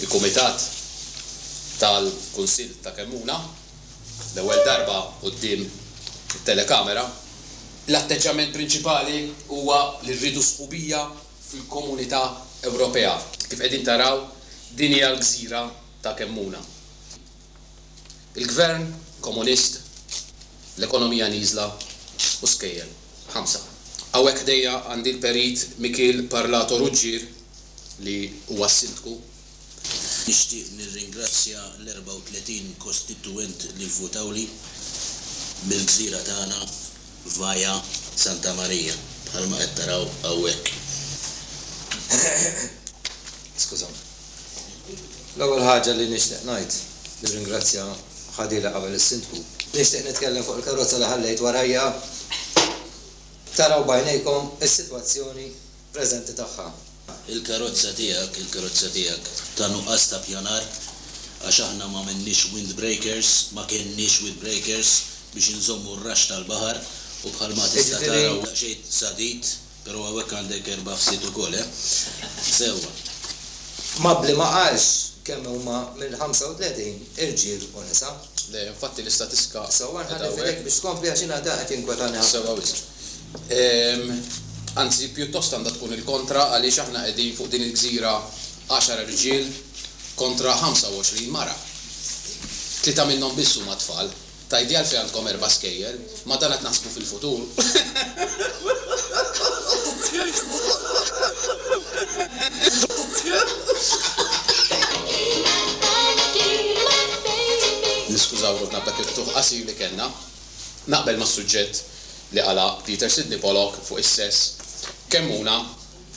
Il-Kumitat tal-Kunsill ta' Kemmuna, l-ewwel darba quddiem it-telekamera. L-atteġġjament prinċipali huwa li rridu sħubija fil-Komunità Ewropea. Kif qegħdin taraw, din hija l-gżira ta' Kemmuna. Il-Gvern Komunist, l-ekonomija nieżla u skejjel. Ħamsa. Hawnhekk ħdejja għandi l-Perit Mikiel Parlato Ruggier li huwa s-Sindku. Nixtieq nirringrazzja l-34 kostitwent li vvutawli mill-gżira tagħna Vaia Santa Maria, bħalma qed taraw hawnhekk. Skużawni. L-ewwel ħaġa li nixtieq ngħid, nirringrazzja ħadili qabel is-Sindku. Nixtieq nitkellem fuq il-karozza li ħallejt warajja. Taraw b'għajnejkom is-sitwazzjoni preżenti tagħha. Il-karozza tiegħek, il-karozza tiegħek ta' nuqqas ta' ppjanar għax aħna m'għamilniex windbreakers, ma kenniex windbreakers biex inżommu r-raxx tal-baħar u bħalma tista' tara huwa daqsxejn sadid. Pero hawnhekk għandek erba' fsied ukoll, eh? Sewwa. Mabli ma qalx kemm huma mill-35 irġiel u nisa? Le, infatti l-istatistika. Sewwa nħalli f'idejk biex tkompli għax jiena dak qed jinkwetani ħafna. Sewwa wisq. Anzi, pjuttost għandha tkun il-kontra għaliex aħna qegħdin fuq din il-gżira għaxar rġiel kontra 25 mara. Tlieta minnhom biss huma tfal. Tgħidli għalfejn għandkom erba' skejjel? Ma dan qed naħsbu fil-futur. Niskużaw ruħna b'dak il-ftuħ qasir li kellna. Naqbel mas-suġġett li qala' Peter Sidney Pollock fuq is-sess. Kemm huna,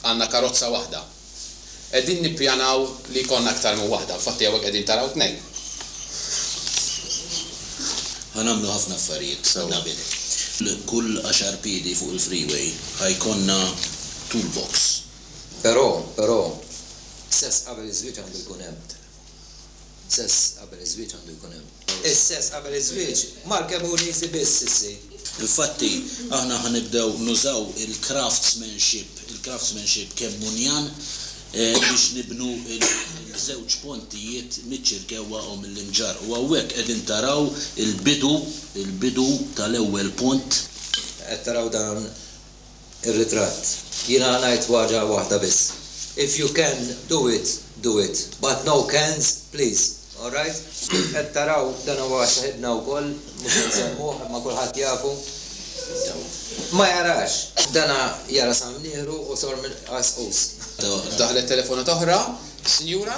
għandna karozza waħda. Qegħdin nippjanaw li jkollna aktar minn waħda, infatti hawnhekk qegħdin taraw tnejn. Ħa nagħmlu ħafna affarijiet, Nabil. Kull għaxar piedi fuq il-freeway ħa jkollna toolbox. Però, però, sess qabel iż-żwieġ għandu jkun hemm. Sess qabel iż-żwieġ għandu jkun hemm. Is-sess qabel iż-żwieġ mal-kemm hu nieżi biss, sissi. Infatti, aħna ħa nibdew nużaw il-craftsmanship, il-craftsmanship kemm hu njan, biex nibnu l-żewġ pontijiet miċ-Ċirkewwa u mill-Imġarr. U hawnhekk qegħdin taraw il-bidu, il-bidu tal-ewwel pont. Qed taraw dan Ir-ritratt. Jiena ngħid waġa waħda biss, If you can do it, do it, but no cans please, all right? Qed taraw, dan huwa saħibna wkoll, mhux se nsemmuh imma kulħadd jafu, ma jarax. Dan jara sa mnieħru u sor mill-qasqus. Daħlet telefonata oħra, sinjura.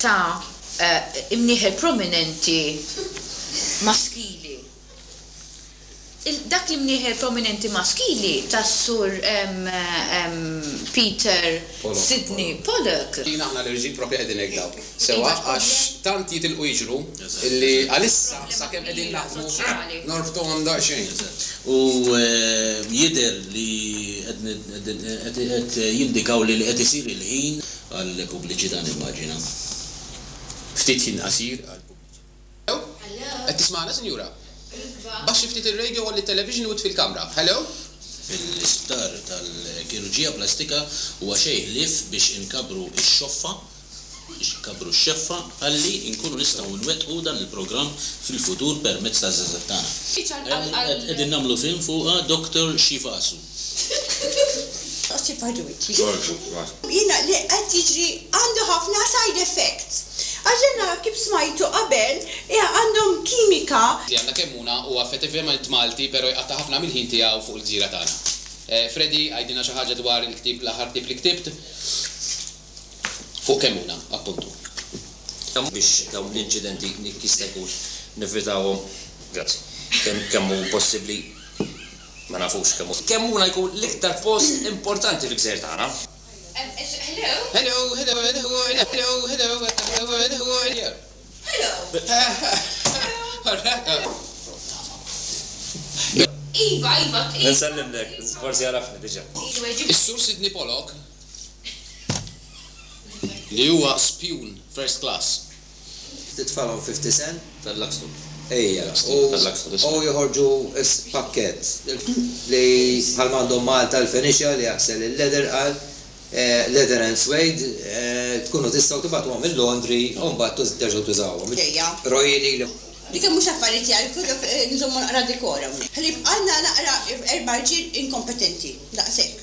ta' imnieħer prominenti maskili. Dak l-imnieħer prominenti maskili ta' Sur Peter Sidney Pollock. Kien aħna l-irġiel proprja qegħdin hekk dawk. Sewwa, għax tant jitilqu jiġru li għalissa sakemm qegħdin naħdmu norbtuhom daqsxejn. U jidher li qed jindikaw li qed isir il-ħin għall-pubbliċità nimmaġina. Ftit ħin qasir għall-pubbliċità. Hello? Qed tismagħna, sinjura? Baxxi ftit ir-radio, għolli t-television u itfi l-kamra. Hello? Fl-isptar tal-kirurġija plastika huwa xejn ħlief biex inkabbru x-xoffa, biex inkabbru x-xeffa, ħalli nkunu nistgħu nwettqu dan il-programm fil-futur permezz taż-żgħażagħ tagħna. Qegħdin nagħmlu film fuqha, Doctor Xifasu. Toqsif għal wiċċi. Torbot ras. Jiena li qed jiġri għandu ħafna side effects. Għax dan nara kif smajtu qabel għandhom kimika. Tiegħna kemm huna huwa effettivament Malti pero jqatta' ħafna mill-ħin tiegħu fuq il-gżira tagħna. Freddy għidilna xi ħaġa dwar il-ktieb l-aħħar ktieb li ktibt fuq kemm huna appuntu. Biex dawn l-inċidenti jekk jista' jkun nevitawhom. Grazzi. Kemm hu possibbli. Ma nafux kemm hu. Kemm hu Lajku l-iktar post importanti fil-gżejjer tagħna. Is-Sur Sidney Pollock li huwa spjun first class Titfalhom fifty cent? Tal-Luxton. Ejja. U joħorġu s-pakkett li bħalma għandhom Malta l-Fenicia li jaħsel il-leather għal leather and suede tkunu tistgħu tibgħatuhom il-laundry u mbagħad terġgħu tużawhom. Ejja. Roji lili. Li kemm mhux affarijiet jgħajjtu dawk nżommu naqra dekor hawnhekk. Ħlief għandna naqra erba' rġiel inkompetenti daqshekk.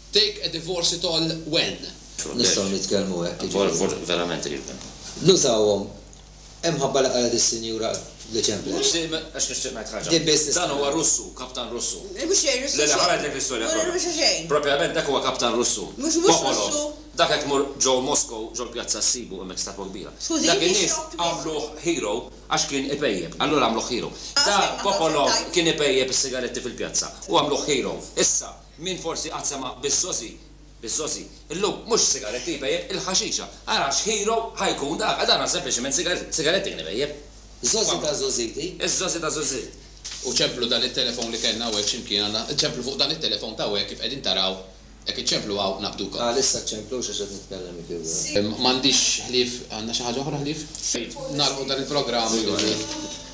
Take a divorce it all when? Nistgħu nitkellmu hekk, jiġifieri. Verament qrib minn. Nużawhom. Imħabba li qalet is-Sinjura li ċemplet. Di għax nixtieq ngħid ħaġa. Di biss nista' ngħid. Dan huwa Russu, kaptan Russu. Mhux xejn Russu. Le le ħa ngħidlek l-istorja kollha. Mhux xejn Russu. Propjament dak huwa kaptan Russu. Mhux mhux Russu. Popolov. Dak qed tmur ġo Moscow ġo l-pjazza ssibu hemmhekk statwa kbira. Skużi, Dak in-nies għamluh hero għax kien ipejjep. Allura għamluh hero. Dak Popolov kien ipejjep is-sigaretti fil-pjazza u għamluh hero. Issa. Min forsi qatt sema' biz-zozi, biz-zozi, illum mhux sigaretti jpejjep, il-ħaxixa. Ara x'hero ħa jkun dak, għax dan hu sempliċiment sigaretti, sigaretti kien ipejjep. Zozi ta' zożiti. Iz-zozi ta' zożit. U ċemplu dan it-telefon li kellna hawnhekk xi mkien, alla, ċemplu fuq dan it-telefon ta' hawnhekk kif qegħdin taraw, jekk iċċemplu hawn naqbdukom. Għalissa ċċemplux għax qed nitkellem jekk irridu. M'għandix ħlief, għandna xi ħaġa oħra ħlief? Nagħlqu dan il-programm illum.